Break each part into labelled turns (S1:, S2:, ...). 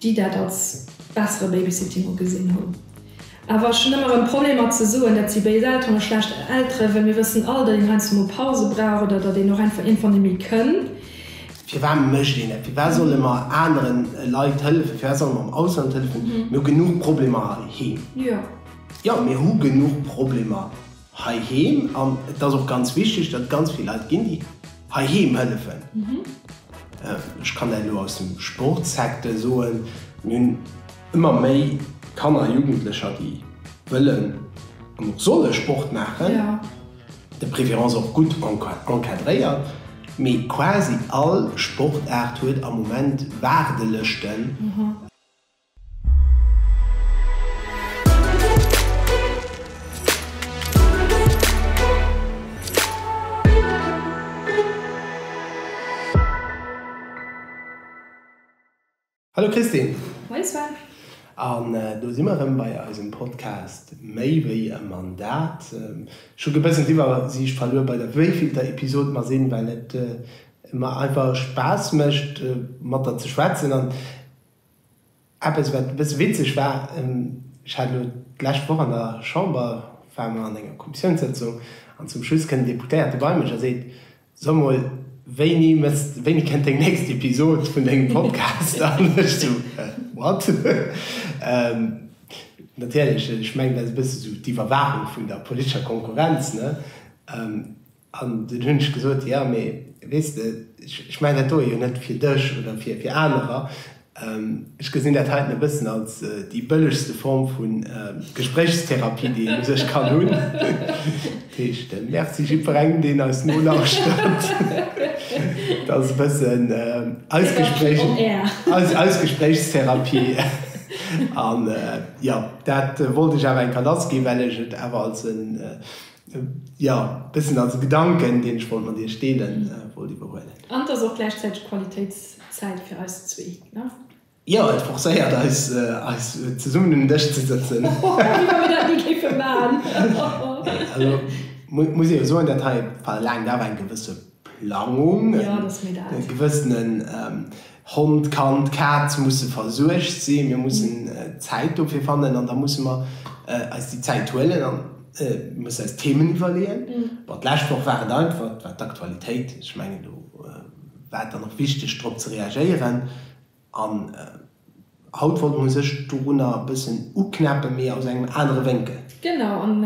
S1: déi dat als bessere Babysitting ugesinn hunn. Awer ech hunn ëmmer erëm Problemer ze soen, dat si béis Elteren a schlecht Eltere, well mir wëssen all, datt een heiansdo mol Pause brauch oder datt een och einfach iergendwann net méi kënn. Firwat
S2: mécht een dat? Firwat solle mer anere Leit hëllefen? Firwat solle mer am Ausland hëllefen? Mir hu genuch Problemer heiheem.
S1: Jo, mir hu
S2: genuch Problemer. Heiheem, an et ass och ganz wichteg, datt et ganz vill Leit ginn, déi heiheem hëllefen. Ech kann dat elo aus dem Sportssecteur soen. Mir hunn ëmmer méi Kanner a Jugendlecher, déi wëllen an och solle Sport maachen,
S1: de préférence
S2: och gutt encadréiert. Mee quasi all Sportaart huet am Moment Waardelëschten. Hallo Christine. Moin Sven.
S1: An
S2: do si mer rëm bei eisem Podcast Méi wéi e Mandat. Ech hu gebëssen d'Iwwersiicht verluer bei der wéivillter Episod mer sinn, well et mer einfach Spaass mécht mat der ze schwätzen an, Eppes, wat e bësse witzeg war, Ech hat elo d'lescht Woch an der Chamber, ware mer an enger Kommissiounssëtzung, an zum Schluss kënnt en Deputéierte bei mech a seet, So mol, wéini mëss, wéini kënnt deng nächst Episod vun dengem Podcast? An ech esou, What? Natierlech, ech mengen, dat ass e bësse esou d'Iwwerwaachung vun der politescher Konkurrenz, ne? An dunn hunn ech gesot, Jo, mee weess de, ech maachen dat do jo net fir dech oder fir anerer. Ech gesinn dat heiten e bëssen als déi bëllegste Form vu Gespréichstherapie, déi een u sech kann hunn. Dat heescht, Merci jiddwerengem, deen eis nolauschtert. Dat ass e bëssen eis Gespréich, eis Gespréichstherapie. An jo, dat wollt ech awer enker lassginn, well ech et awer als e. Jo, dëst sinn also Gedanken, deen ech wollt mat iech deelen, wollt iwwerhuelen. An et ass och gläichzäiteg
S1: Qualitéitszäit fir eis zwee, ne? Jo, et
S2: forcéiert eis, eis zesummen un den Dësch ze sëtzen. Wéi wa mir dat
S1: ni géife maachen. Also
S2: muss ee jo soen, dat hei verlaangt awer eng gewësse Plangung, e
S1: gewëssenen
S2: Hond, Kand, Kaz musse versuergt sinn, mir mussen Zäit dofir fannen an da musse mer eis déi Zäit huelen an mir musse eis Themen iwwerleeën. Bon, d'lescht Woch war et einfach, et war d'Aktualitéit, ech mengen do war et dann och wichteg drop ze reagéieren. An haut wollt mer sech dorunner e bëssen uknäppen, mee aus engem anere Wénkel. Genau, an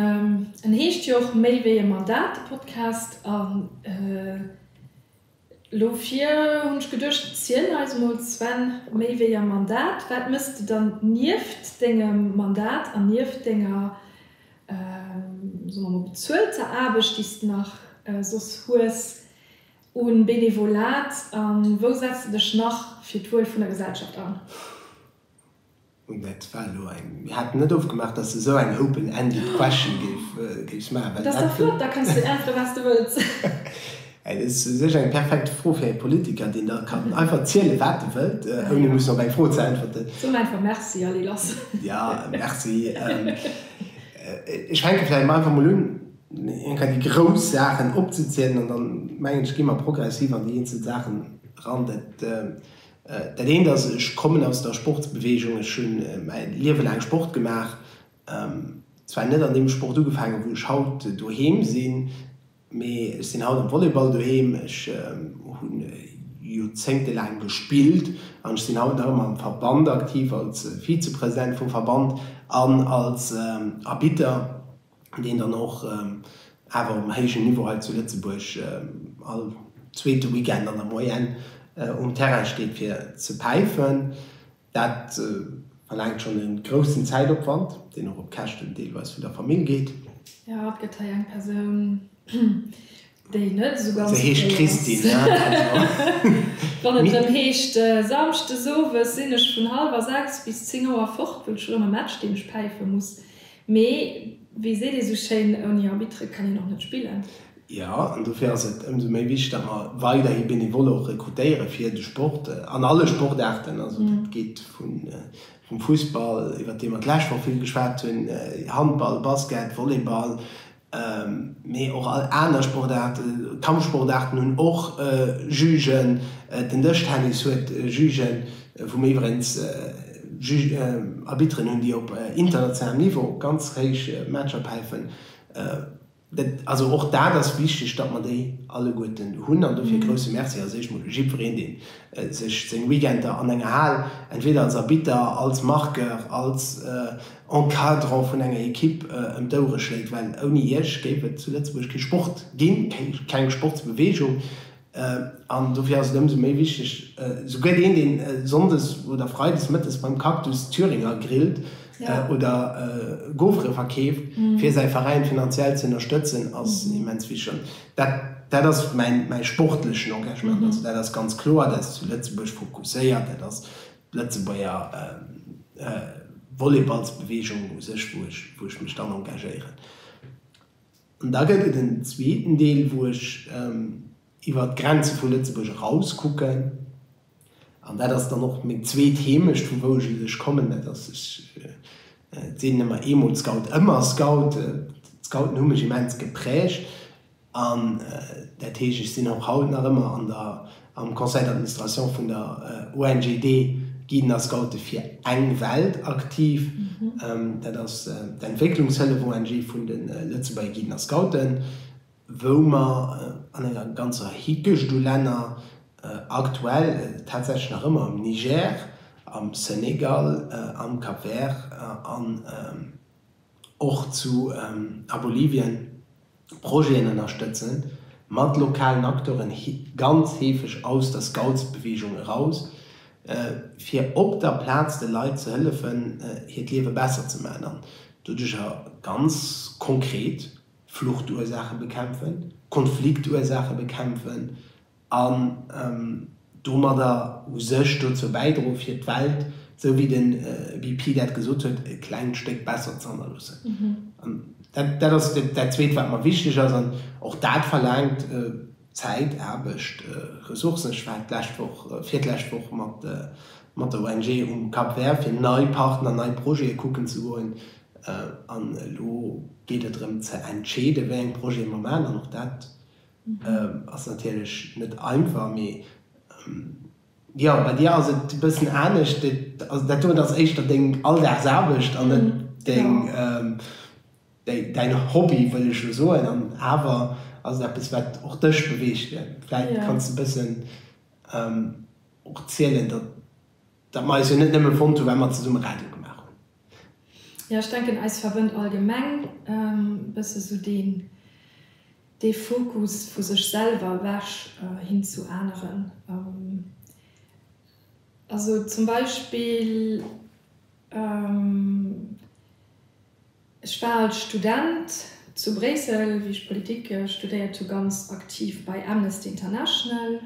S1: en heescht jo och Méi wéi e Mandat, de Podcast. An elo vir hunn ech geduecht, ziel eis emol, Sven, méi wéi e Mandat, wat méchs de dann nieft dengem Mandat an nieft denger, soe mer emol, bezuelter Aarbecht, déi s de nach soss hues? Un Benevolat a wou setz de dech nach fir d'Wuel vun der Gesellschaft an?
S2: Bon, dat war elo eng, mir haten net ofgemaach, dass de esou eng open ended question géifs maachen, well dat. Dat ass dach flott,
S1: da kanns de äntweren, wat s de wëlls. Dat ass
S2: u sech eng perfekt Fro fir e Politiker, deen da kann einfach zielen, wat e wëllt, ouni mussen op eng Fro ze äntwerten. Soen einfach Merci
S1: a lee lass. Jo, Merci.
S2: Ech fänke vläicht einfach mol un. eng Rei déi grouss Saachen opzezielen an dann, mengen ech, gi mer progressiv an déi eenzel Saachen eran. Dat eent ass, ech kommen aus der Sportsbeweegung, ech hu mäi Liewe laang Sport gemaach, zwar net an deem Sport ugefaangen, wou ech haut doheem sinn, mee ech sinn haut am Volleyball doheem, ech hu Joerzéngte laang gespillt an ech sinn haut nach ëmmer am Verband aktiv als Vizepresident vum Verband an als Arbitter. deen dann och awer um héijen Niveau hei zu Lëtzebuerg all zweete Weekend an der Moyenne um Terrain steet fir ze päifen. Dat verlaangt schonn e groussen Zäitopwand, deen och op Käschten deelweis vun der Famill geet. Jo, et gëtt hei
S1: eng Persoun, déi net esou ganz okay ass. Se heescht Christine, also. Wann et erëm heescht, Samschdes owes sinn ech vun hallwer sechs bis zéng Auer fort, wëll ech erëm e Match, deen ech päife muss, Mee wéi seet ee sou schéin, ouni Arbitre kann een och net spillen. Jo, an dofir
S2: ass et ëmsou méi wichteg, datt mer weiderhi Benevole och rekrutéiere fir de Sport an alle Sportaarten. Also dat geet vum Fussball, iwwert dee mer d'lescht Woch vill geschwat hunn, Handball, Basket, Volleyball, Mee och all aner Sportaarten, Kampfsportaarten hunn och Jugen. Den Dëschtennis huet Jugen, wou mir iwwerengs Arbitteren hunn, déi op internationalem Niveau ganz héich Matcher päifen. Also och dat ass wichteg, datt mer déi alleguerten hunn. An dofir e grousse Merci als éischt mol jiddwereen, dee sech seng Weekender an enger Hal entweder als Arbitter, als Marqueur, als Encadrant vun enger Ekipp ëm d'Ouere schléit, well ouni Iech géif et zu Lëtzebuerg kee Sport ginn, keng Sportsbeweegung. An dofir ass et ëmsou méi wichteg, souguer deen, deen sonndes oder freides mëttes beim Cactus Thüringer grillt oder Gaufere verkeeft, fir säi Veräin finanziell ze ënnerstëtzen, ass immens wichteg. An dat ass mäi sportlechen Engagement. Also dat ass ganz kloer, dat ass zu Lëtzebuerg fokusséiert, dat ass. Lëtzebuerger Volleyballsbeweegung u sech, wou ech wou ech mech dann engagéieren. An da gëtt et en zweeten Deel, wou ech iwwer d'Grenze vu Lëtzebuerg eraus kucken. An dat ass dann och meng zweet Heemecht, vu wou ech u sech kommen. Dat ass, ech sinn ëmmer eemol Scout, ëmmer Scout. D'Scouten hu mech immens geprägt. An dat heescht, ech sinn och haut nach ëmmer an der am Conseil d'administration vun der ONG de Guiden a Scoute fir eng Welt aktiv. Dat ass d'Entwécklungshëllef-ONG vun de Lëtzebuerger Guiden a Scouten, wou mer an enger ganzer Hickecht u Länner, aktuell tatsächlech nach ëmmer am Niger, am Senegal, am Cap-Vert an. och zu a Bolivien Projeten ënnerstëtzen, mat lokalen Acteuren, ganz heefeg aus der Scoutsbeweegung eraus, fir op der Plaz de Leit ze hëllefen, hiert Liewe besser ze maachen an doduercher ganz konkret Fluchtursaache bekämpfen, Konfliktursaache bekämpfen an domadder u sech dozou bäidroen, fir d'Welt, esou wéi de BP dat gesot huet, e klengt Stéck besser ze hannerloossen. An dat ass dat Zweet, wat mer wichteg ass. An och dat verlaangt Zäit, Aarbecht, Ressourcen. Ech war d'lescht Woch, virdlescht Woch mat der ONG um Cap Vert, fir nei Partner, nei Projete kucken ze goen. An elo geet et drëm ze entscheeden, wéi eng Projete mer maachen. An och dat Ass natierlech net einfach, mee jo, bei dir ass et e bëssen anescht. Also dat doten ass éischter deng Alldagsaarbecht an net deng, däin Hobby wëll ech elo soen. An awer ass et eppes, wat och dech beweegt. Vläicht kanns de e bëssen och zielen, datt. Datt mer eis jo net nëmme fonnt hu well mer zesumme Radio gemaach hunn. Jo,
S1: ech denken eis verwënnt allgemeng e bësse sou deen dee Fokus vu sech selwer ewech hin zu aneren. Also zum Beispill ech war als Student zu Bréissel, wéi ech Politik studéiert hu, ganz aktiv bei Amnesty International,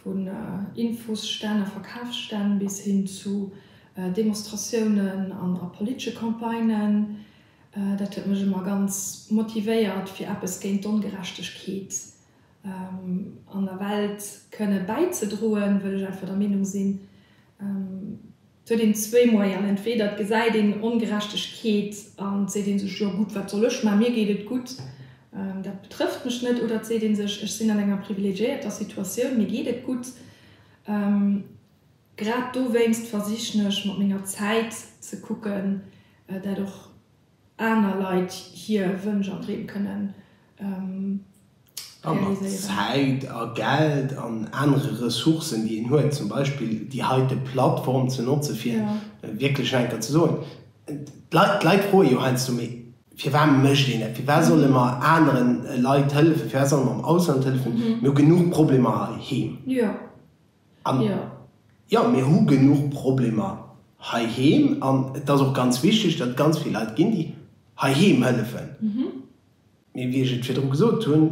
S1: Vun Infosstänn a Verkafsstänn bis hin zu Demonstratiounen an a politesche Campagnen, dat huet mech ëmmer ganz motivéiert, fir eppes géint d'Ongerechtegkeet an der Welt kënne bäizedroen, wëll ech einfach der Meenung sinn, Et huet een zwee Moyen, entweder et gesäit een Ongerechtegkeet an et seet ee sech, jo gutt, wat soll ech man, mir geet et gutt, dat betrëfft mech net, oder et seet ee sech, ech sinn an enger privilegiéierter Situatioun, mir geet et gutt. Grad dowéinst versichen ech mat menger Zäit ze kucken, dat och. aner Leit hier Wënsch an Dreem kënnen realiséieren. A
S2: mat Zäit a Geld an anere Ressourcen, déi een huet, zum Beispill déi heite Plattform ze notze fir wierklech nach eng Kéier ze soen, d'Leit froe jo heiansdo, mee firwat mécht een dat, firwat solle mer anere Leit hëllefen, firwat solle mer am Ausland hëllefen, mir hu genuch Problemer heiheem. An jo, mir hu genuch Problemer heiheem an et ass och ganz wichteg, datt et ganz vill Leit ginn, déi heiheem hëllefen. Mee wéi ech et virdru gesot hunn,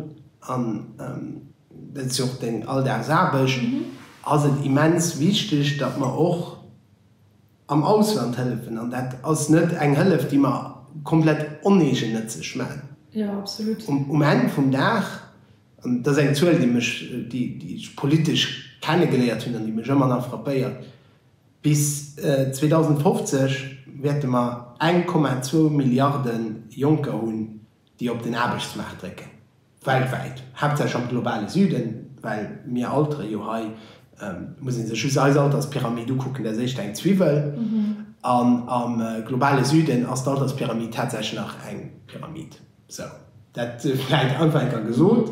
S2: an dat ass jo och deng Alldagsaarbecht, ass et immens wichteg, datt mer och am Ausland hëllefen. An dat ass net eng Hëllef, déi mer komplett oneegennëtzeg maachen.
S1: Um Enn vum Dag
S2: An dat ass eng Zuel, déi mech, déi ech politesch kennegeléiert hunn an déi mech ëmmer nach frappéiert, Bis 2050 wäerte mer 1,2 Milliarde Jonker hunn, déi op den Aarbechtsmaart drécken, weltwäit, haaptsächlech am globale Süden, well mir altere jo hei, muss ee sech just eis Alterspyramid ukucken, dat ass éischter eng Zwiwwel, an am globale Süden ass d'Alterspyramid tatsächlech nach eng Pyramid. Sou, dat vläit einfacher gesot.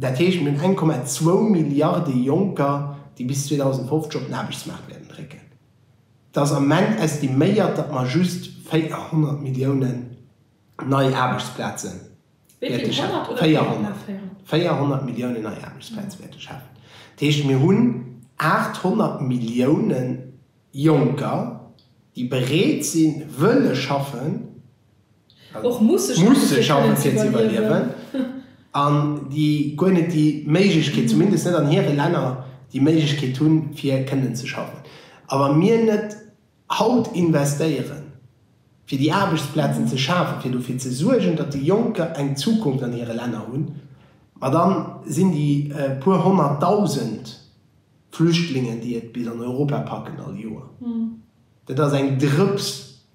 S2: Dat heescht, mir hunn 1,2 Milliarde Jonker, déi bis 2050 op den Aarbechtsmaart wäerten drécken. Et ass am Moment estiméiert, datt mer just 400 Milliounen nei Aarbechtsplaze wäerte schafen. 400 Milliounen nei Aarbechtsplaze wäerte schafen. Dat heescht, mir hunn 800 Milliounen Jonker, déi bereet sinn, wëlle schaffen.
S1: musse schaffen, fir ze
S2: iwwerliewen, an déi guer net déi Méiglechkeet, zumindest net an hire Länner, déi Méiglechkeet hunn, fir kënnen ze schaffen. A wa mir net haut investéieren, fir déi Aarbechtsplazen ze schafen, fir dofir ze suergen, datt déi Jonker eng Zukunft an hire Länner hunn, ma da sinn déi puer honnertdausend Flüchtlingen, déi et bis an Europa packen all Joer, Dat ass eng Drëps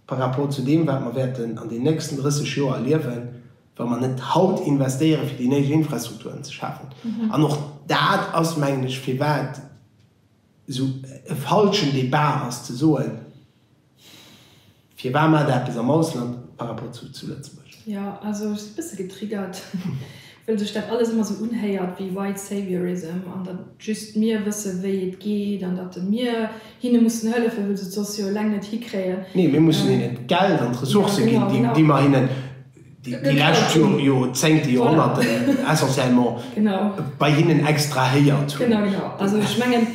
S2: par rapport zu deem, wat mer wäerten an den nächsten 30 Joer erliewen, wa mer net haut investéieren, fir déi néideg Infrastrukturen ze schafen. An och dat ass, mengen ech, firwat esou e falschen Débat ass, ze soen, Firwat maacht Der eppes am Ausland par rapport zu Lëtzebuerg? Jo, also ech si
S1: e bësse getriggert. Well sech dat alles ëmmer sou unhéiert wéi White Saviorism an datt just mir wësse wéi et geet an datt mir hinne mussen hëllefen, wëll se d'soss jo eleng net hikréien. Nee, mir mussen hinnen
S2: d'Geld an d'Ressourcë ginn, déi mer hinnen déi lescht Joerzéngte, Joerhonnerten essentiellement bei hinnen extrahéiert hunn. Genau, genau. Also ech mengen,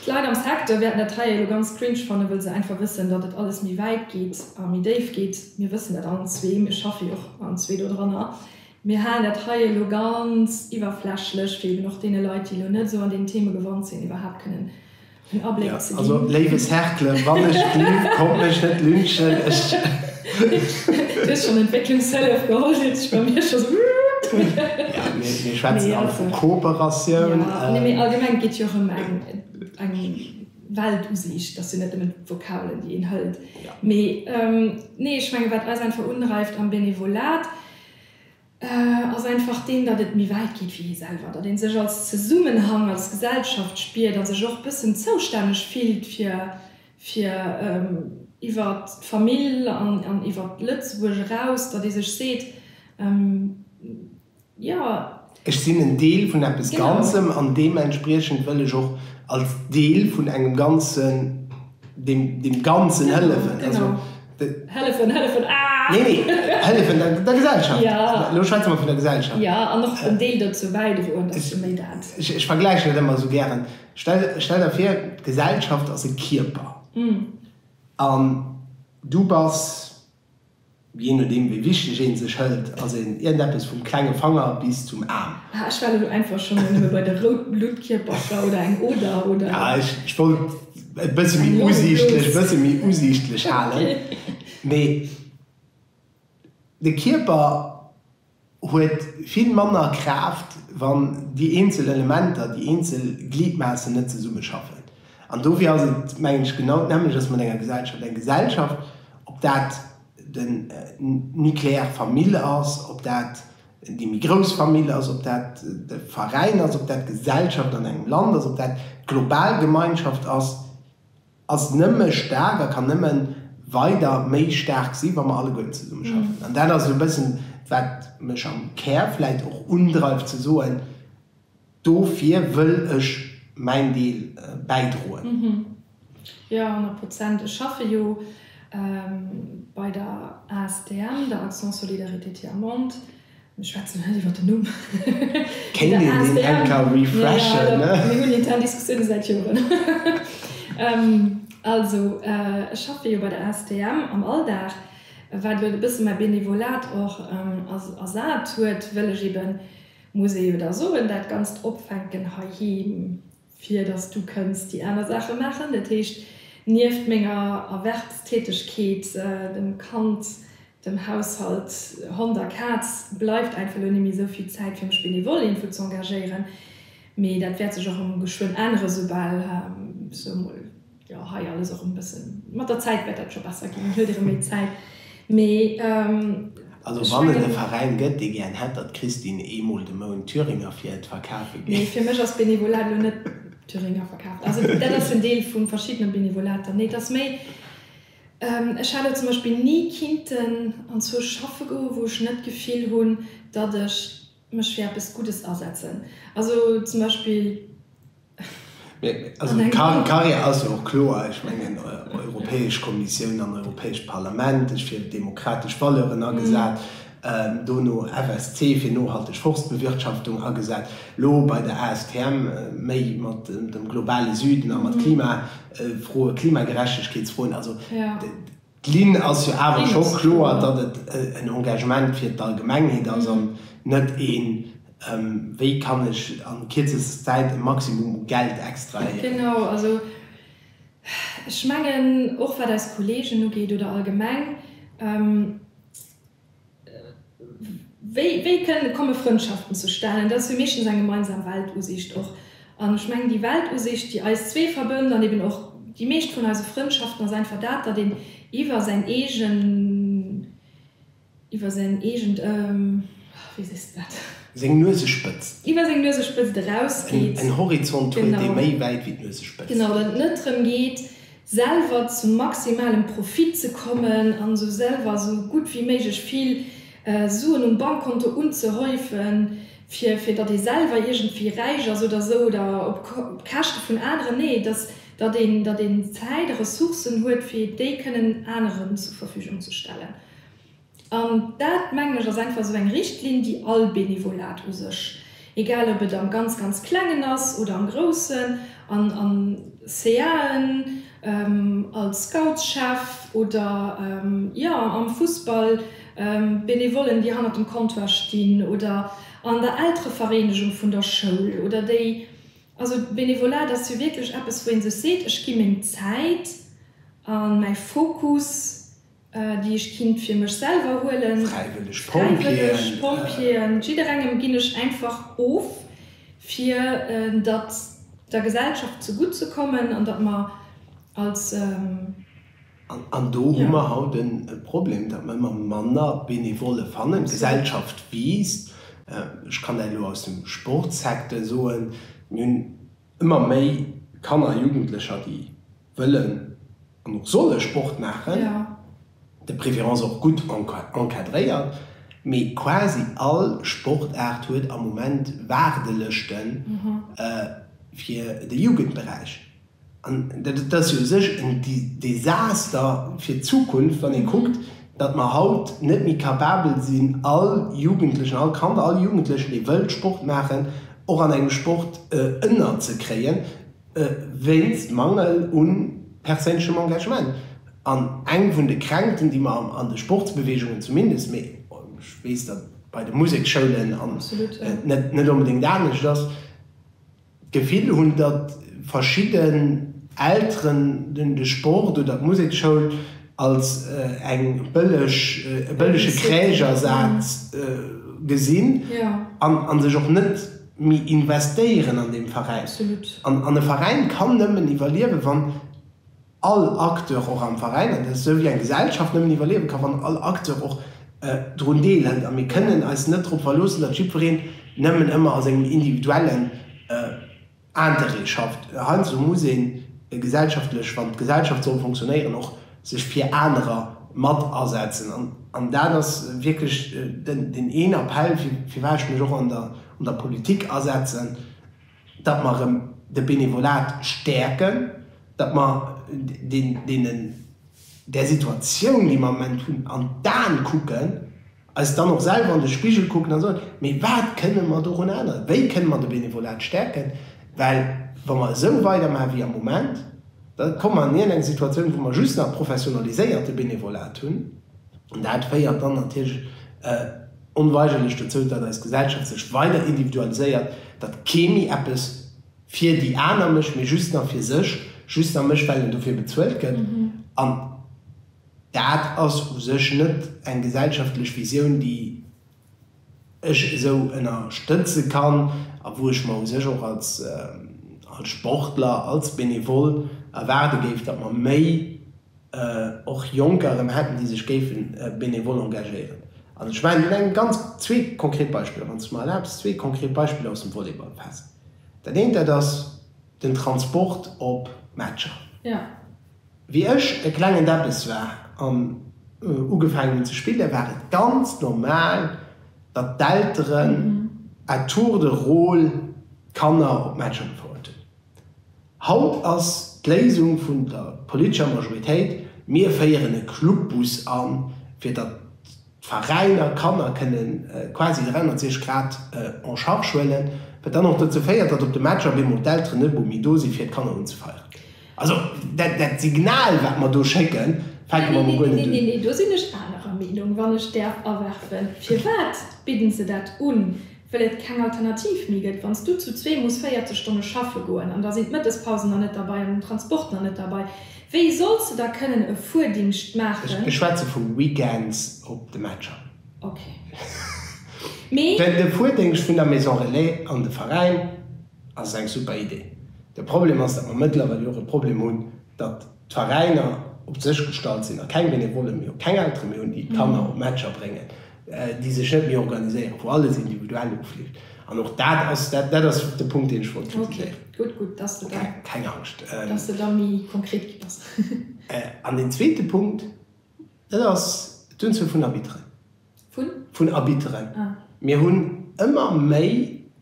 S1: d'Leit am Secteur wäerten dat hei elo ganz cringe fannen, wëll se einfach wëssen, datt et alles méi wäit geet a méi déif geet. Mir wëssen dat allen zwee, mir schaffe jo och allen zwee dodranner. Mir halen dat hei elo ganz iwwerflächlech, fir eben och deene Leit, déi elo net esou an deenen Theme gewand sinn, iwwerhaapt kënnen en Abléck ze ginn. Also, léiwe Cercle,
S2: wann ech lügen, kommt mech net lynchen, ech.
S1: Du hues schonn Entwécklungshëllef geholl, seet sech bei mir scho sou. Ja, mir
S2: schwätzen alt vu Kooperatioun. Ja, nee, mee allgemeng,
S1: et geet jo och ëm eng Weltusiicht. Et ass jo net nëmmen d'Vokabelen, déi een hëlt. Mee, nee, ech mengen, wat eis einfach undreift am Benevolat, ass einfach deen, datt et méi wäit geet wéi ee selwer, datt ee sech als Zesummenhang, als Gesellschaft spiert a sech och e bëssen zoustänneg fillt fir, fir iwwer d'Famill an iwwer Lëtzebuerg eraus, datt ee sech seet, jo. Ech sinn en Deel
S2: vun eppes Ganzem an deementspriechend wëll ech och als Deel vun engem Ganzen deem Ganzen hëllefen. Genau.
S1: Hëllefen,
S2: hëllefen, aah! Nee, nee, hëllefen der Gesellschaft. Jo. Elo schwätze mer vun
S1: der Gesellschaft.
S2: Jo, an och en Deel
S1: dozou bäidroen, dass se méi dat. Ech vergläichen et ëmmer esou
S2: gären. Stell der vir, d'Gesellschaft ass e Kierper. An du bass Jee nodeem wéi wichteg een sech hëlt, ass een iergendeppes vum klenge Fanger bis zum Aarm. Ah ech war elo einfach
S1: schon nëmme bei de rout Bluttkierpercher oder eng Oder oder Ja ech wollt
S2: et bësse méi usiichtlech, e bësse méi usiichtlech halen, mee de Kierper. huet vill manner Kraaft, wann déi eenzel Elementer, déi eenzel Gliedmaassen net zesummeschaffen. An dofir ass et, mengen ech, genau d'Nämmleches mat enger Gesellschaft. Eng Gesellschaft, ob dat den Nucléaire Famill ass, ob dat déi méi grouss Famill ass, ob dat de Veräin ass, ob dat d'Gesellschaft an engem Land ass, ob dat d'global Gemeinschaft ass, ass nëmme staark a kann nëmme weider méi staark si wa mer alleguerten zesumme schaffen. An dat ass esou e bëssen, wat mech am Kär vläicht och undreift ze soen, dofir wëll ech mäin Deel bäidroen. Jo,
S1: honnert Prozent. Ech schaffe jo bei der ASTM, der Action Solidarité Tiers Monde. Mir schwätzen hei iwwer den Numm. Kéint een
S2: deen enk refreshen? Mir hunn intern
S1: Diskussioune säit Joren. Also ech schaffe jo bei der ASTM am Alldag, wat elo e bësse mäi Benevolat och ersat huet, well ech eebe, muss ee jo da soen, dat Ganzt opfänken heiheem. fir dass du kënns déi aner Saache maachen, dat heescht nieft menger Erwerbstätegkeet, dem Kand, dem Haushalt, Hond a Kaz, bleift einfach elo nimme sou vill Zäit fir mech benevole iergendwou ze engagéieren, mee dat wäert sech och erëm geschwënn änneren, soubal, sou mol. Jo, hei alles och en bëssen, mat der Zäit wäert dat scho besser ginn, huet erëm méi Zäit, mee ech mengen.
S2: Also wann et e Veräin gëtt, dee gären hätt, datt d'Christine ee
S1: Mol
S2: de Mount
S1: Thüringer
S2: fir et verkafe geet. Nee,
S1: fir
S2: mech ass
S1: Benevolat
S2: elo net Thüringer
S1: verkafen. Also dat ass en Deel vu verschiddene Benevolater. Nee, et ass méi, ech hat elo zum Beispill ni kinnten anzwousch schaffe goen, wou ech net d'Gefill hunn, datt ech. Mech fir eppes Guddes asetzen. Also zum Beispill.
S2: Also d'Carrière ass jo och kloer. Ech mengen, Europäesch Kommissioun an Europäescht Parlament, ech fir demokratesch Valeuren agesat, dono FSC, fir nohalteg Forstbewirtschaftung agesat, lo bei der ASTM méi mat dem globale Süden a mat Klimafroe, Klimagerechtegkeetsfroen. Also. D'Linn ass jo awer scho kloer, datt et en Engagement fir d'Allgemengheet ass an net een, wéi kann ech a kierzester Zäit e Maximum u Geld extrahéieren. Genau, also
S1: ech mengen, och wat eis Kolleegen ugeet oder allgemeng, Wéi kënnen, komme Frëndschaften zustanen? Dat ass jo meeschtens eng gemeinsam Weltusiicht och. An ech mengen, déi Weltusiicht, déi eis zwee verbënnt an eben och déi meescht vun eise Frëndschaften, ass einfach dat, datt een iwwer säin eegen, iwwer säin eegent, wéi sees de dat? Seng Nuesespëtzt.
S2: Iwwer seng Nuesespëtzt
S1: erausgeet. En Horizont
S2: huet, dee méi wäit wéi
S1: d'Nuesespëtzt
S2: geet. Genau, datt et net
S1: drëm geet, selwer zum maximalem Profit ze kommen an esou selwer esou gutt wéi méiglech vill Suen um Bankkonto unzehäufen, fir fir datt ee selwer iergendwéi räich ass oder esou oder op op Käschte vun aneren, nee, datt datt een datt een Zäit a Ressourcen huet, fir déi kënnen aneren zur Verfügung ze stellen. An dat, mengen ech, ass einfach esou eng Richtlinn, déi all Benevolat u sech, egal ob et am ganz, ganz Klengen ass oder am Groussen, an a CAen, als Scoutschef oder, jo, am Fussball, Benevollen, déi hannert dem Comptoir stinn, oder an der Elterevereenegung vun der Schoul, oder déi, also Benevolat ass jo wierklech eppes, wou ee sech seet, ech gi meng Zäit a mäi Fokus déi ech kinnt fir mech selwer huelen, fräiwëlleg
S2: Pompjeeën,
S1: jidderengem ginn ech einfach of fir datt der Gesellschaft ze gutt ze kommen an datt mer als.
S2: An do hu mer haut e Problem, datt mer ëmmer manner Benevolle fannen, d'Gesellschaft wiisst, ech kann dat elo aus dem Sportsecteur soen, mir hunn Ëmmer méi Kanner a Jugendlecher, déi wëllen an och solle Sport maachen, de préférence och gutt encadréiert, mee quasi all Sportaart huet am Moment Waardelëschte fir de Jugendberäich. An dat ass jo u sech en Desaster fir d'Zukunft, wann ee kuckt, datt mer haut net méi capabel sinn, all Jugendlechen, all Kand, all Jugendlechen, dee wëllt Sport maachen, och an engem Sport ënnerzekréien, wéinst Mangel u perséinlechem Engagement. An eng vun de Kränkten, déi mer an de Sportsbewegungen zumindest, mee ech weess, datt bei de Museksschoulen net onbedéngt anescht ass, d'Gefill hunn, datt verschidden Elteren de Sport oder d'Musekschoul als eng bëlleg, e bëllege Kräichersaz gesinn an sech och net méi investéieren an deem Veräin. An e Veräin kann nëmmen iwwerliewen, wann all Acteur och am Veräin, an dat ass esou wéi eng Gesellschaft nëmmen iwwerliewe ka wann all Acteur och drun Deel hëlt, a mir kënnen eis net drop verloossen, datt jiddwereen nëmmen ëmmer a sengem individuellen Interêt schafft. Heiansdo muss ee gesellschaftlech, wann d'Gesellschaft soll fonctionnéieren, och sech fir anerer mat asetzen, an dat ass wierklech deen een Appell firwat ech mech och an der Politik asetzen, datt mer erëm de Benevolat stäerken, datt mer deenen, där Situatioun, déi mer am Moment hunn, an d'Aen kucken, eis dann och selwer an de Spigel kucken a soen, Mee wat kënne mer dorun änneren? Wéi kënne mer de Benevolat stäerken? Well wa mer esou weidermaache wéi am Moment, da komme mer an eng Situatioun, wou mer just nach professionaliséierte Benevolat hunn, an dat féiert dann natierlech, Onweigerlech dozou, datt eis Gesellschaft sech weider individualiséiert, datt kee méi eppes fir déi aner mécht, mee just nach fir sech, just nach mécht, well en dofir bezuelt gëtt. An dat ass u sech net eng gesellschaftlech Visioun, déi ech esou ënnerstëtze kann a wou ech mer u sech och als Sportler, als Benevole erwaarde géif, datt mer méi och Jonker erëm hätten, déi sech géife benevol engagéieren. An ech maachen Iech eng ganz, zwee konkret Beispiller, wann s de mer erlaabs, zwee konkret Beispiller aus dem Volleyball fest. Dat eent, dat ass den Transport op Matcher.
S1: Wéi
S2: ech e klengen Deppes war an ugefaangen hunn ze spillen, war et ganz normal, datt d'Elteren à tour de rôle d'Kanner op d'Matcher gefouert hunn. Haut ass d'Léisung vun der politescher Majoritéit, Mir féieren e Clubbus an, fir datt d'Veräiner d'Kanner kënne quasi 360 Grad en charge huelen, wat dann och dozou féiert, datt op de Matcher op eemol d'Elteren net emol méi do sinn, fir d'Kanner unzefeieren. Also dat Signal, wat mer do schécken, fänke mer emol guer net un. Do sinn ech anerer
S1: Meenung, wann ech däerf awerfen. Firwat bidden se dat un? Well et keng Alternativ méi gëtt, wann s du zu zwee muss 40 Stonne schaffe goen, an da sinn d'Mëttespausen nach net derbei an den Transport nach net derbei, wéi solls de da kënnen e Fuerdingscht maachen? Ech schwätze vu
S2: Weekends op de Matcher. Ok. Mee. Well de Fuerdingscht vun der Maison Relais an de Veräin ass eng super Idee. De Problem ass, datt mer mëttlerweil jo och e Problem hunn, datt Terrainer op sech gestallt sinn a keng Benevolle méi, keng Eltere méi hunn, déi d'Kanner op Matcher bréngen, déi sech net méi organiséieren, wou alles individuell ofleeft. An och dat ass, dat ass de Punkt, deen ech wollt kritiséieren. Okay, gutt, gutt, dass
S1: de da. Keng Angscht.
S2: Dass de da méi
S1: konkret gi bass. An deen
S2: zweete Punkt, dat ass d'Unzuel vun Arbitteren. vun. Vun Arbitteren. Mir hunn ëmmer méi,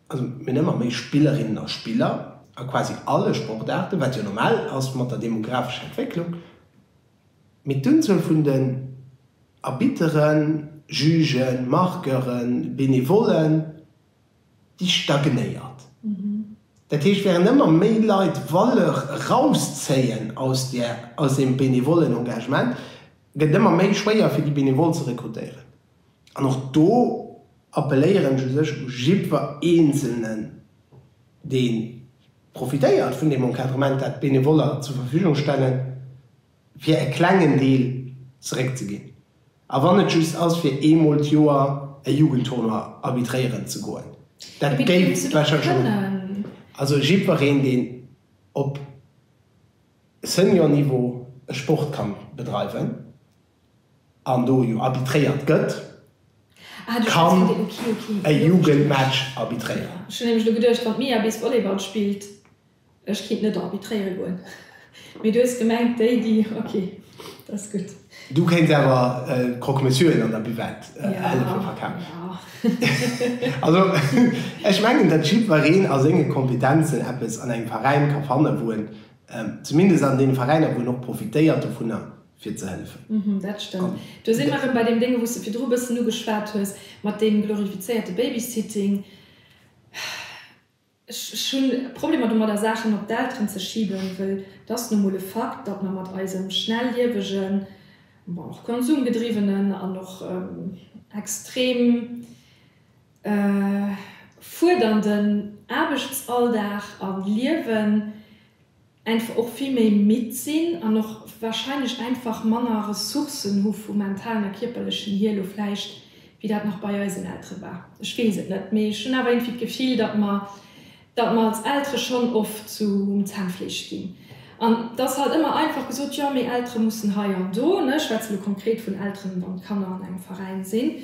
S2: also mir hunn ëmmer méi Spillerinnen a Spiller a quasi alle Sportaarten, wat jo normal ass mat der demographescher Entwécklung, mee d'Unzuel vun den Arbitteren, Jugen, Marqueuren, Benevollen, déi stagnéiert. Dat heescht, während ëmmer méi Leit Valeur erauszéien aus där, aus deem benevollen Engagement, gëtt et ëmmer méi schwéier fir déi Benevole ze rekrutéieren. An och do appelléieren ech u sech u jiddwer eenzelnen, dee profitéiert vun deem Encadrement, dat d'Benevoller zur Verfügung stellen, fir e klengen Deel zeréckzeginn, a wann et just ass, fir eemol d'Joer e Jugendtournoi arbitréieren ze goen. Dat géif d'Becher Joe, also jiddwereen, deen op Senior-Niveau e Sport ka bedreiwen an do jo arbitréiert gëtt, kann e Jugendmatch arbitréieren.
S1: Ech kéint net arbitréiere goen, mee du hues gemengt déi déi, ok, dat ass gutt. Du kéints awer
S2: d'Croque-Monsieuren an der Buvette hëllefe verkafen. Also ech mengen, datt jiddwereen a senge Kompetenzen eppes an engem Veräin ka fannen, wou en, zumindest an deene Veräiner wou en och profitéiert dovunner, fir ze hëllefen. Mhm, dat stëmmt. Do
S1: si mer erëm bei deem Dénge wou s de virdru e bëssen ugeschwat hues, mat deem glorifizéierte Babysitting. Ech hunn Problemer domadder, Saachen op d'Elteren ze schiben, wëll et ass nu mol e Fakt, datt mer mat eisem schnelliewegen, bon, och konsumgedriwwenen an och extrem fuerdernden Aarbechtsalldag a Liewen, einfach och vill méi midd sinn an och wahrscheinlech einfach manner Ressourcen hu vum mentalen a kierperlechen hier elo vläicht, wéi dat nach bei eisen Eltere war. Ech weess et net, mee ech hunn awer iergendwéi d'Gefill, datt mer, datt mer als Eltere schonn oft zum Zännfleesch ginn. An et ass halt ëmmer einfach gesot, Jo, mee Eltere mussen hei an do, ech schwätze elo konkret vun Elteren, wann d'Kanner an engem Veräin sinn,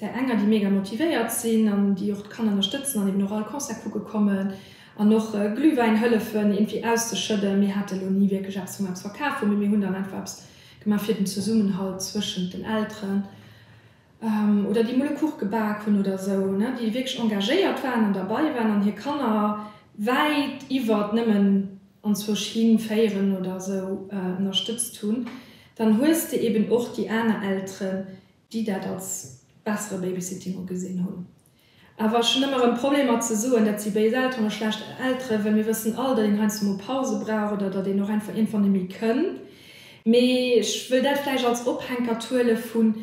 S1: Där enger, déi mega motivéiert sinn an déi och d'Kanner ënnerstëtzen an eben och all Concert kucke kommen an och Glühwäin hëllefen irgendwie auszeschëdden. Mir hate lo ni wierklech eppes, wou mer eppes verkaf hunn, mee mir hunn dann einfach eppes gemaach fir den Zesummenhalt zwëschent den Elteren oder déi mol e Kuch gebak hunn oder esou, ne, déi wierklech engagéiert waren an derbei waren an hir Kanner wäit iwwert nëmmen anzwousch hin féieren oder esou ënnerstëtzt hunn. Dann hues de eben och déi aner Elteren, déi dat als bessere Babysitting ugesinn hunn. Awer ech hunn ëmmer erëm Problemer ze soen, dat si béis Elteren oder schlecht Elteren, well mir wëssen all, datt een heiansdo mol Pause brauch oder datt een och einfach iergendwann net méi kënn. Mee ech wëll dat vläicht als Ophänkert huele vun,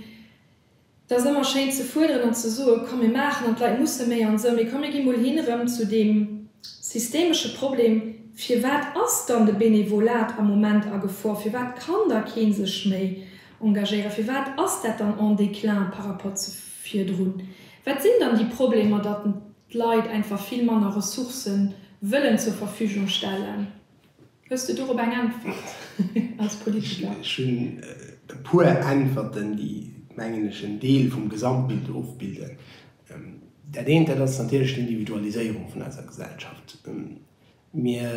S1: et ass ëmmer schéin ze fuerderen an ze soen, komm mir maachen an d'Leit musse méi an esou, mee komm mir gi mol hin erëm zu deem systemesche Problem, firwat ass dann de Benevolat am Moment a Gefor, firwat kann da kee sech méi Engagéieren. Firwat ass dat dann en Déclin par rapport zu virdrun? Wat sinn dann déi Problemer, datt d'Leit einfach vill manner Ressourcë wëllen zur Verfügung stellen? Hues de dorop eng Äntwert als Politiker? Ech hunn
S2: e puer Äntwerten, déi, mengen ech, en Deel vum Gesamtbild ofbilden. Dat eent, dat ass natierlech d'Individualiséierung vun eiser Gesellschaft. Mir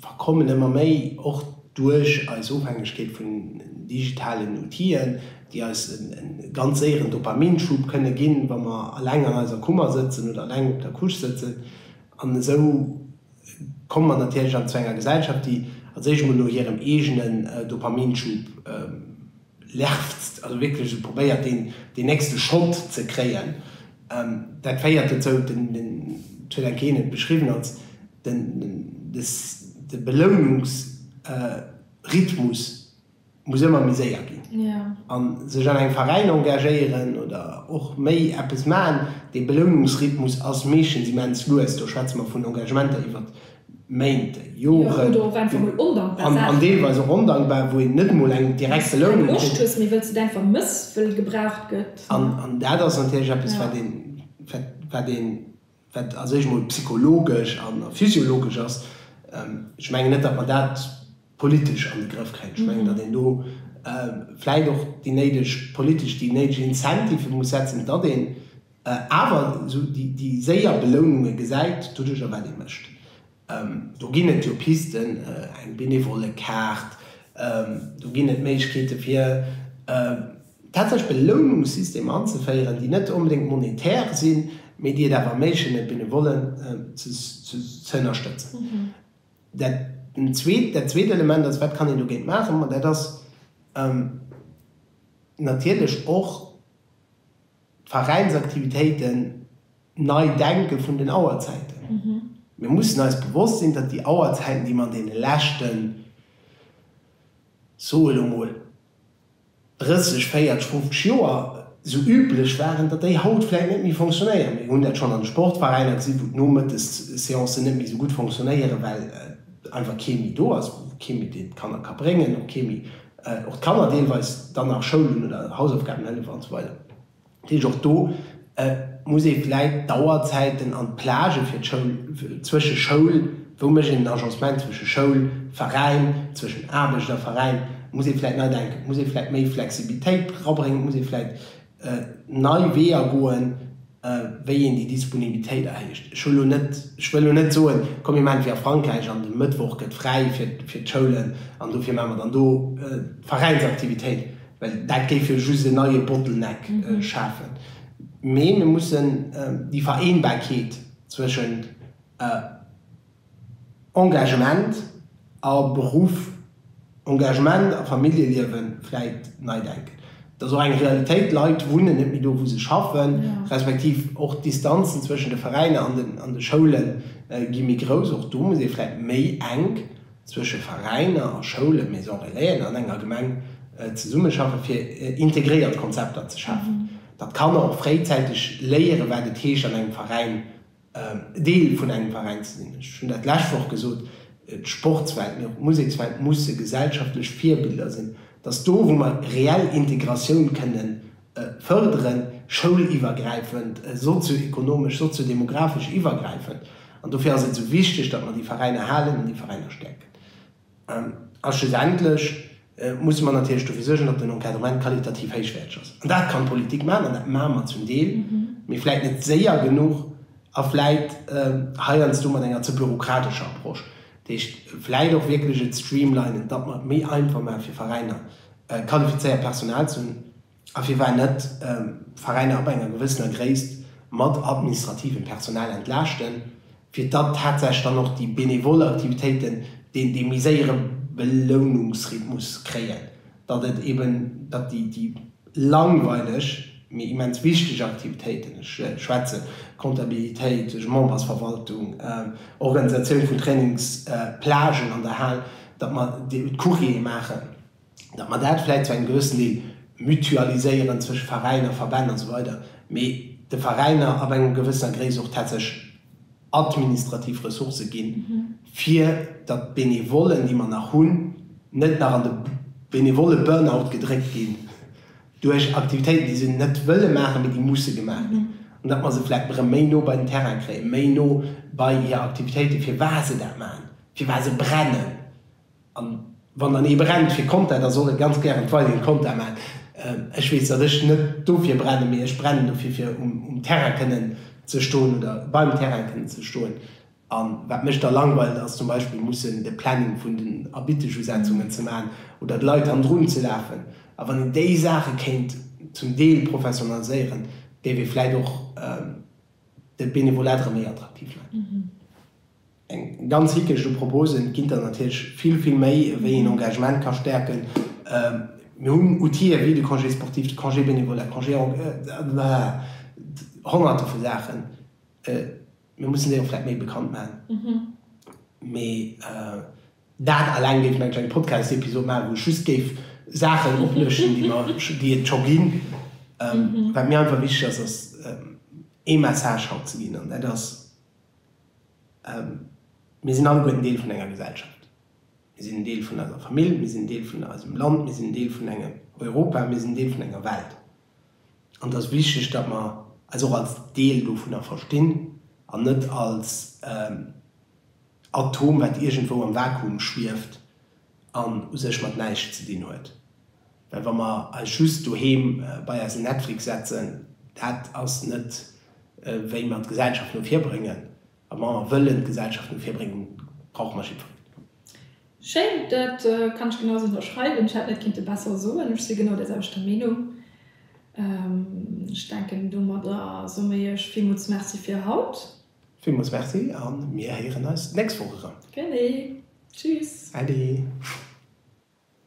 S2: verkommen ëmmer méi, och duerch eis Ofhängegkeet vun digitalen Outill'en, déi eis e ganz séieren Dopaminschub kënne ginn, wa mer eleng an eiser Kummer sëtzen oder eleng op der Couche sëtzen. An esou komme mer natierlech an zu enger Gesellschaft, déi als éischt emol no hirem eegenen Dopaminschub lerpst, also wierklech e probéiert deen deen nächste Shot ze kréien. Dat féiert dozou, den den Ceylan Keen huet beschriwwen als den de Belounungs Rhythmus muss ëmmer méi séier ginn. A
S1: sech an engem
S2: Veräin engagéieren oder och méi eppes maachen, dee Belounungsrhythmus ass meeschtens immens lues, do schwätze mer vun Engagementer iwwert Méint, Joren,
S1: an deelweis och ondankbar,
S2: wou een net emol eng direkte Lounung
S1: kritt. An dat ass
S2: natierlech eppes, wat een, wat een, wat a sech emol psychologesch a physiologesch ass. Ech mengen net, datt mer dat politesch an de Grëff kréien. Ech mengen, datt een do vläicht och déi néideg politesch, déi néideg Incentivë muss setzen, datt een awer esou déi séier Beloununge gesäit doduerjer wat ee mécht. Do ginn et jo Pisten, eng Benevollekaart, do ginn et Méiglechkeete fir tatsächlech Belounungssysteme anzeféieren, déi net onbedéngt monetär sinn, mee déi et awer erméiglechen e Benevollen ze ënnerstëtzen. Dat zweet Element ass, wat kann een dogéint maachen? Ma dat ass natierlech och d'Veräinsaktivitéiten nei denke vun den Auerzäiten. Mir mussen eis bewosst sinn, datt déi Auerzäiten, déi mer an deene leschten, soe lo mol, 30, 40, 50 Joer esou üblech waren, datt déi haut vläit net méi fonctionnéieren. Mir hunn dat schonn an de Sportveräiner gesinn, wou d'Nomëttesseancen net méi esou gutt fonctionnéieren, well einfach kee méi do ass, kee méi deen d'Kanner ka bréngen, och kee méi och d'Kanner deelweis dann nach Schoul hunn oder Hausaufgaben hëllef an esou weider. Dat heescht, och do muss ee vläit d'Auerzäiten an d'Plagë fir d'Schoul, zwësche Schoul, wou mécht een den Agencement zwësche Schoul, Veräin, zwëschen Aarbecht a Veräin, muss ee vläit nei denken, muss ee vläit méi Flexibilitéit rabréngen, muss ee vläit nei Weeër goen, wéi een déi Disponibilitéit erhéicht. Ech hu lo net, ech wëll lo net soen, komm mir maachen et wéi a Frankräich an de Mëttwoch gëtt fräi fir d'Schoulen an dofir maache mer dann do Veräinsaktivitéit. Well dat géif jo just en neie Bottleneck schafen. Mee mir mussen déi Vereenbarkeet zwëschent Engagement a Beruff, Engagement a Familljeliewe vläit nei denken. Et ass och eng Realitéit, d'Leit wunnen net méi do, wou se schaffen, respektiv och d'Distanzen zwëschent de Veräiner an de Schoule gi méi grouss. Och do muss ee vläit méi enk. zwësche Veräiner a Schoulen, Maison Relaisen an enger Gemeng zesummeschaffen, fir integréiert Konzepter ze schafen, datt d'Kanner och fréizäiteg léieren, wat et heescht, an engem Veräin, Deel vun engem Veräin ze sinn. Ech hunn dat d'lescht Woch gesot, d'Sportswelt, mee och d'Musekswelt musse gesellschaftlech Virbiller sinn, datt do, wou mer reell Integratioun kënnen fërderen, schoul-iwwergräifend, sozio-ekonomesch, sozio-demographesch iwwergräifend. An dofir ass et esou wichteg, datt mer déi Veräiner halen an déi Veräiner stäerken. A schlussendlech musse mer natierlech dofir suergen, datt den Encadrement qualitativ héichwäerteg ass. An dat kann d'Politik maachen an dat maache mer zum Deel, mee vläit net séier genuch a vläit heiansdo mat enger ze bürokratescher Approche. Dat heescht, vläit och wierklech et streamlinen, datt mer et méi einfach maache fir Veräiner, qualifizéiert Personal ze hunn a firwat net Veräiner ab enger gewëssener Gréisst mat administrativem Personal entlaaschten, fir datt tatsächlech dann och déi benevol Aktivitéiten deen dee méi séiere Belounungsrhythmus kréien, datt et eben, datt déi langweileg, mee immens wichteg Aktivitéiten, ech schwätze Comptabilitéit, Membersverwaltung, Organisatioun vun Trainings, Plagen an der Hal, datt mer d'Couriere maachen. datt mer dat vläicht zu engem gewëssen Deel mutualiséieren zwësche Veräiner, Verbänn a sou weider, mee de Veräiner ab enger gewëssener Gréisst och tatsächlech administrativ Ressourcë ginn, fir datt d'Benevollen, déi mer nach hunn, net nach an de Benevolle-Burnout gedréckt ginn duerch Aktivitéiten, déi se net wëlle maachen, mee déi musse gemaach ginn, an datt mer se vläicht erëm méi no bei den Terrain kréien, méi no bei hir Aktivitéiten, firwat se dat maachen, firwat se brennen. An wann dann ee brennt fir Content, da soll e ganz gären weideren Content maachen. Ech weess, datt ech net dofir brennen, mee ech brennen dofir fir um Terrain kënnen ze stoen oder beim Terrain kënnen ze stoen. A wat mech da langweilt ass zum Beispill mussen de Planning vun den Erbittegusetzungen ze maachen oder d'Leit hannendrun ze lafen. A wann een déi Saache kéint zum Deel professionaliséieren, géif ee vläit och de Benevolat erëm méi attraktiv maachen. Eng ganz Hickecht u Proposen ginn der natierlech vill, vill méi, wéi een Engagement ka stäerken. Mir hunn Outiller wéi de Congé sportif, de Congé bénévole, de Congé emploi, honnerte vu Saachen. Mir mussen déi och vläicht méi bekannt maachen. Mee dat alleng géif, mengen ech, eng Podcast-Episod maachen, wou ech just géif Saachen oplëschten, déi et scho ginn. Wat mir einfach wichteg ass, ass ee Message haut ze ginn, an dat ass, Mir sinn alleguer en Deel vun enger Gesellschaft. Mir sinn en Deel vun eiser Famill, mir sinn en Deel vun eisem Land, mir sinn en Deel vun engem Europa, mir sinn en Deel vun enger Welt. An et ass wichteg, datt mer eis och als Deel dovunner verstinn an net als en Atom, wat iergendwou am Vakuum schwieft, an u sech mat näischt ze dinn huet, well wa mer eis just doheem bei eise Netflix setzen, dat ass net wéi mer d'Gesellschaft no vir bréngen, a wa mer wëllen d'Gesellschaft no vir bréngen, brauche mer jiddwereen. Schéin,
S1: dat kann ech genau esou ënnerschreiwen. Ech hätt net kinnte besser soen, ech si genau där selwechter Meenung. Ech denken domadder somme ech villmools Merci fir haut. Villmools Merci
S2: a mir héieren
S1: eis
S2: d'nächst Woch erëm. Gerne.
S1: Tschüss.
S2: Äddi.